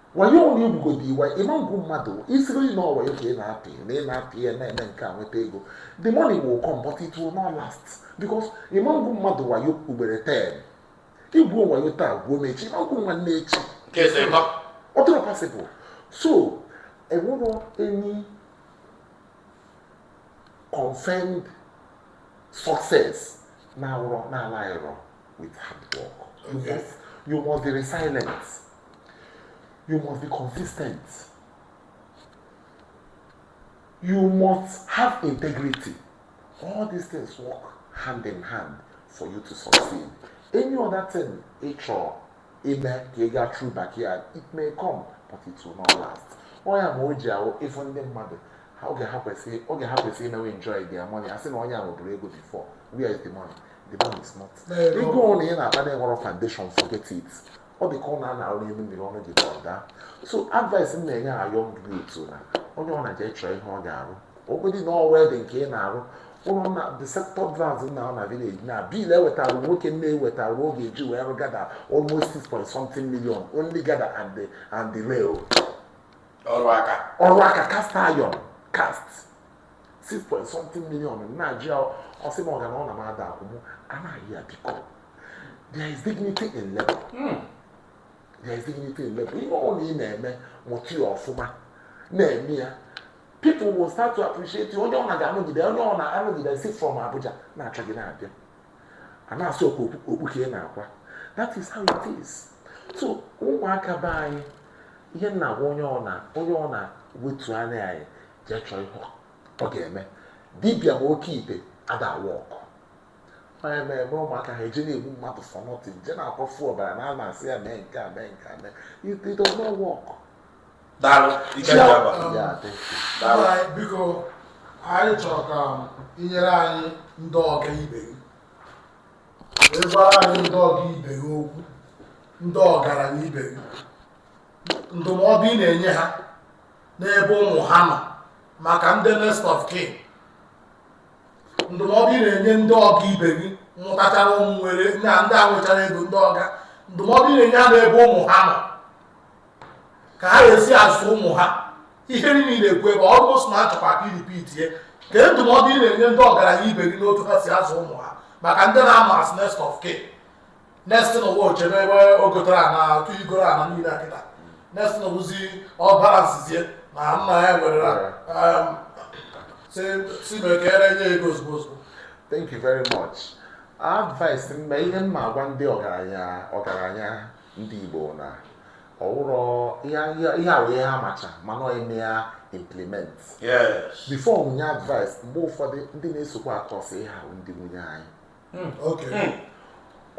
wayo ọrụ igbugodo iwa ị ma egwu mmadụ ị sịrị na ọ wayo ka ị na-apị na ị na-apị ya na-eme nke a nweta ego the money will come but it will not last because ị ma egwu mmadụ wayo ugboro 10 i gwuo wayo taa gwuo m echi ị ma egwu nwanne echi ọ dịrọ possible so enwerọ any confirmed success na-awụrọ na-ala ịrọ with hard work you must be resilient you must be consistent you must have integrity all these things work hand in hand for you to succeed any other thing ị chọrọ ime ka ị gaa through backyard it may come but it will not last ọ ya mere e ji ahụ ịfụ ndị mmadụ ha oge ha kwesịrị oge ha kwesịrị imewe enjoy their money a sị na onye ahụ buuru ego before where is the money the money is not ego ọna ị na-akpa na-enwerọ foundation forget it ọ dị ka ụnọ a na-arụ n'elu mmiri ọnụ gị ka ọ daa so advice m na-enye our ndị youth na onye ọna jee chọọ ihe ọ ga-arụ ogbedi na ọwa dị nke ị na-arụ ụlọ na the sector grounds na na village na bill e wetara nwoke m e wetara a ga-eji wee rụ gada almost six point something million only gada and the and the rail ọrụ aka ọrụ aka cast iron cast six point something million na-ajụ ya ọ sị m ọga na ọ na m ada akwụ m anaghị ya biko there is dignity in labor hmm. there is dignity in labor ihe ọ na ị na-eme mụta ya ọfụma na-eme ya people will start to appreciate you onye ọ na-aga anụgide onye ọ na-anụgide si from Abuja na-achọ gị na-abịa a na-asị ọkwa okpu ka ị na-akwa that is how it is so ụmụaka be anyị ihe m na-agwa onye ọ na onye ọ na wetu anya ana jee chọọ ihe ọ ga-eme dibịa na oke ite ada a-work ọ ya mere ebe ụmụaka ha eje na-egbu mmadụ for nothing je na-akwafu ọbara na ama asị ya mee nke a mee nke a mee it do not work daalụ ike dị aba ya adị daalụ Anyị, biko anyị chọrọ ka i nyere anyị ndị ọga ibe gị wee gwara anyị ndị ọga ibe gị okwu ndị ọgaranya ibe gị ndụmọdụ ị na-enye ha n'ebe ụmụ ha nọ maka ndị next of kin ndụmọdụ ị na-enye ndị ọga ibe gị mụtachara ụmụ nwere na ndị a nwechara ego ndị ọga ndụmọdụ ị na-enye ha n'ebe ụmụ ha nọ ka ha ga-esi azụ ụmụ ha ihe niile na-ekwu ebe almost na achọkwa ka i ripitie ka ndụmọdụ ị na-enye ndị ọgaranya ibe gị n'otu ha si azụ ụmụ ha maka ndị na-ama as next of kin next thing ọwụ o chebe ebe o gotere ana otu i goro ana niile a kịta next thing ọwụzi ọ balansizie na nna ya nwere um, si si mekere nye ego ozugbo ozugbo thank you very much advice m ma ihe m ma agwa ndị ọgaranya ọgaranya ndị igbo na ọwụrọ ihe ihe- ihe awụ ihe ha macha mana ọ ime ya implement yes before mụ enye advice mgbe ụfọdụ ndị na-esokwa akọsị ihe a wụ ndị nwunye anyị hmm, hmm.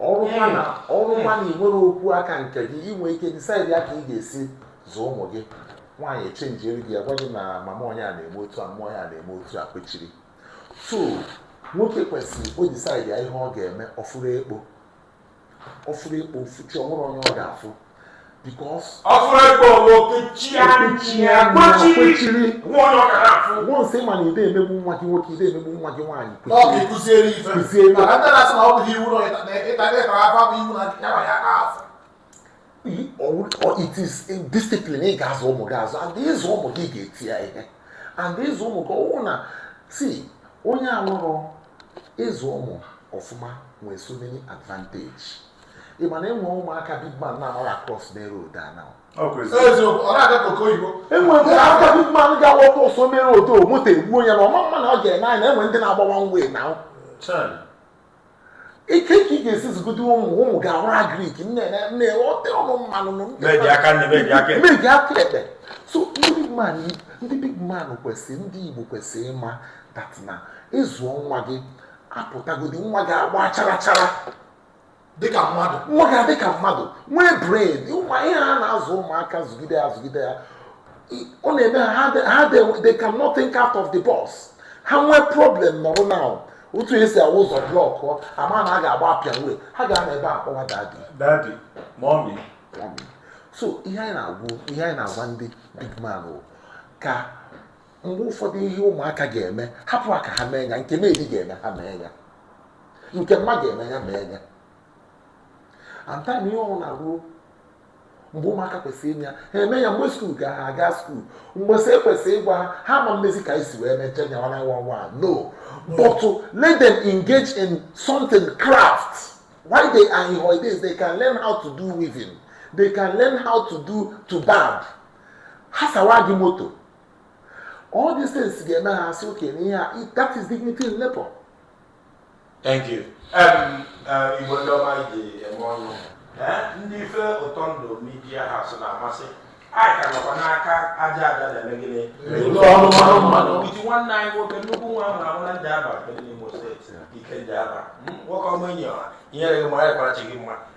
ọrụ nwa na ọrụ nwa na ị nwere okwu aka nke gị i nwe ike disaidia ka ị ga-esi zụọ ụmụ gị nwaanyị echenjiere gị agwa gị na mama onye a na-eme otu a mma onye a na-eme otu a kwechiri so nwoke kwesịrị o disaidia ihe ọ ga-eme ọ fụrụ ekpo ọ fụrụ ekpo o fuchi o nwere onye ọ ga-afụ because ọ fụrụ ịkpọ ọlụ kechie kwechiri once ma na ị de emegbu nwa gị nwoke ị de emegbu nwa gị nwaanyị kwechiri kụziere ife kụziere ife it is discipline ị ga-azụ ụmụ gị azụ and ịzụ ụmụ gị ga-eti ya ihe and ịzụ ụmụ gị ọwụ na si onye alụrụ ịzụ ụmụ ọfụma nwere so many advantage ị ma na e nwe ụmụaka big man na-amaghị across main road a now e nwe ụmụaka big man ga-awa cross main road o moto egbuo ya na ọ ma ama na ọ ga-ene anya na e nwe ndị na-agbawa nwe na ike ka ị ga-esi zụgide ụmụ ụmụ gị awụrụ agrik na-ewete ọnụ mmanụ meji aka nri meji aka ekpe meji aka ekpe so ndị big man ndị big man kwesịrị ndị igbo kwesịrị ịma that na ịzụọ nwa gị apụtagodi nwa gị agba chara chara dịka mmadụ nwa gị adịka mmadụ nwee bread ụmụ ihe a na-azụ ụmụaka zụgide ya zụgide ya ọ na-eme ha ha they cannot think out of the box ha nwee problem na road now otu esi awụ ụzọ blọkụ ama na a ga-agba Apian way ha ga-anọ ebe a kpọwa daddy daddy mommy so ihe anyị na-agwụ ihe anyị na-agwa ndị big man bụ ka mgbe ụfọdụ ihe ụmụaka ga-eme hapụ aka ha mee ya nke maid ga-eme ha mee ya nke mma ga-eme ya mee ya and time ihe ọwụna ruo mgbe ụmụaka kwesịrị ime ya ha eme ya mgbe skuul ga ha aga skuul mgbe sị ekwesị ịgwa ha ha ma mmezi ka anyị si wee meche nya nwana nwa nwa no but to let them engage in something craft while they are in holidays they can learn how to do weaving they can learn how to do to barb ha sawa gị moto all these things ga-eme ha asị okenye ihe a that is dignity in labour Thank you. Um, uh, Igbo ndị ọma ji eme ọnụ eh, ndị ife ụtọ ndụ media house na-amasị anyị ka nọkwa n'aka aja aja na-eme gịnị with nwanne anyị nwoke nnukwu nwa a mụ amụ na Njaba n'Imo steeti ike Njaba hmm, nwoke ọma enyi ọha inyere gị mara ịkwarachi gị mma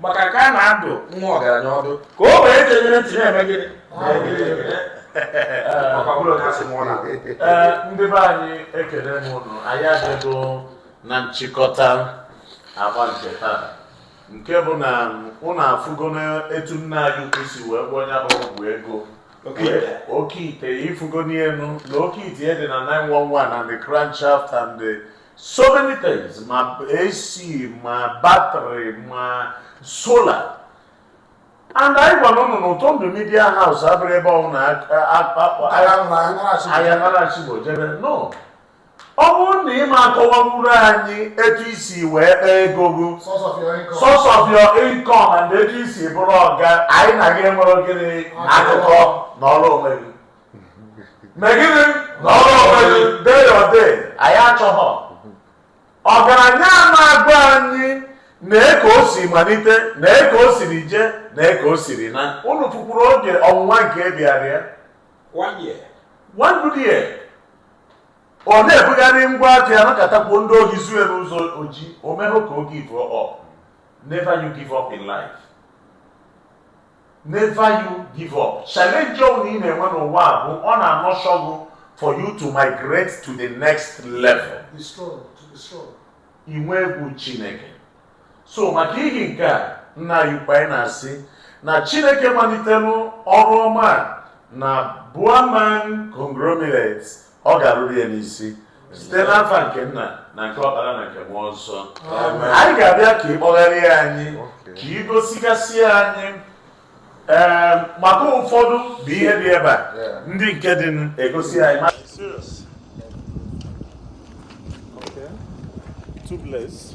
maka ka a na-adụ nwa ọgaranya ọdụ ka ogbenye gere ntị na-eme gịnị ndị be anyị ekele m ụnụ anyị adịgo na nchịkọta agba nke taa nke bụ na ụnụ afụgo n'etu nna anyị ukwu si wee gwọọ nya bụ ọgwụ ego oke ite ị fụgonụ ya nụ na oke ite dị na 911 and the crankshaft and the so many things ma AC ma battery ma solar and anyị gwara ụnụ na ụtọ ndụ media house abụrọ ebe ọ na ahịa narachigbo jebe no ọ bụrụ na ị ma akọwawuru anyị etu i si wee kpaa ego gị source of your income and etu i si bụrụ ọga anyị na gị enwerọ gịnị akụkọ nọrọ onwe gị me gịnị nọrọ onwe gị dey your dey anyị achọghọ ọgaranya ama agwa anyị na eke o si malite na eke o siri je na eke o siri na unu fụkwuru oge ọnwụnwa nke bịara ya one year one good year ọ na-ebugharị ngwa afịa a nọkatakwuo ndị ohi zuo ya n'ụzọ oji o mehụ ka o give up never you give up in life never you give up challenge ọbụla ị na-enwe n'ụwa a bụ ọ na-anurture gụ for you to migrate to the next level Be strong, to be strong. inwe egwu chineke so maka ihi nke a nna anyị ukwu anyị na-asị na chineke malitere ọrụ ọma a na Buaman conglomerate ọ ga-arụru ya n'isi site n'afa nke nna na nke ọkpara na nke mmụọ nsọ anyị ga-abịa ka ị kpọgharịa anyị ka ị gosigasị anyị ee maka ụfọdụ bụ ihe dị ebe a ndị nke dị n- egosi anyị ma- Okay. Tubeless.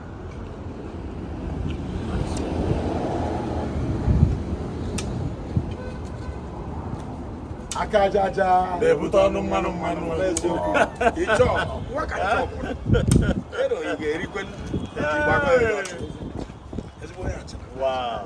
aka aja aja na-ebute ọnụ mmanụ mmanụ Wow.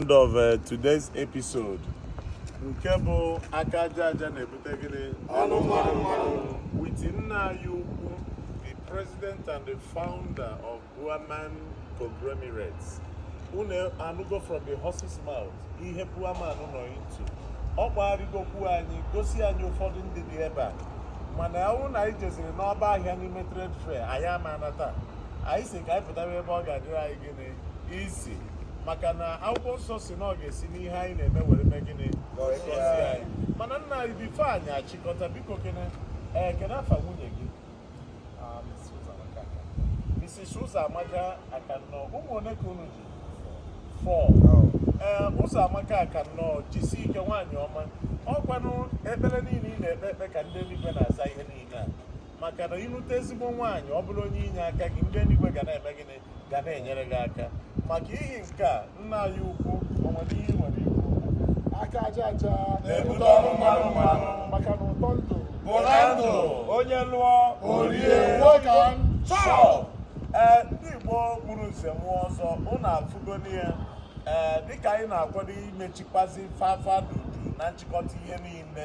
End of uh, today's episode. nke bụ aka aja aja na-ebute gịnị ọnụ mmanụ mmanụ witi nna anyị ukwu the president and the founder of Buaman conglomerates unu anụgo from the horse's mouth ihe Buaman nọ into ọ kpọgharịgokwu anyị gosi anyị ụfọdụ ndị dị ebe a mana ọ bụ na anyị jeziri n'ọgbọ ahịa n'ime trade fair anyị ama anata anyị sị ka anyị pụtara ebe ọ ga-adịrị anyị gị easy maka na akwụkwọ nsọ sị na ọ ga-esi n'ihe anyị na-eme were mee gịnị wee gọzie anyị mana nna anyị bifo anyị achịkọta biko kene ee kene afa nwunye gị ah, Mrs. Ụzọamaka Akannọ ụmụ ole ka unu ji four ee eh, Ụzọamaka Akannọ jisi ike nwaanyị ọma ọkwanụ ekpere niile ị na-ekpe ekpe ka ndị eluigwe na-aza ihe niile a maka na ịnụta ezigbo nwaanyị ọ bụrụ onye inye aka gị ndị eluigwe ga na-eme gịnị ga na-enyere gị aka maka ihi nke a nna anyị ukwu o nwere ihe i nwere ikwu aka aja aja na-ebute ọnụ mmanụ mmanụ maka na ụtọ ndụ bụ na ndụ onye lụọ o rie nwoke chọọ ee ndị Igbo gburu nze mụọ ọzọ unu afụgoni ya ee dịka anyị na-akwado imechikwazi fafa dudu na nchịkọta ihe niile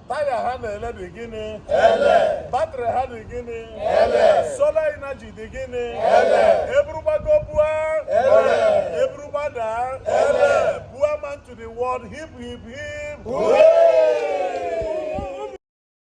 taya ha na-ele dị gịnị ele batrị ha dị gịnị ele solar energy dị gịnị ele e buru gbago bua ele e buru gbada ele Buaman to the world hip hip hip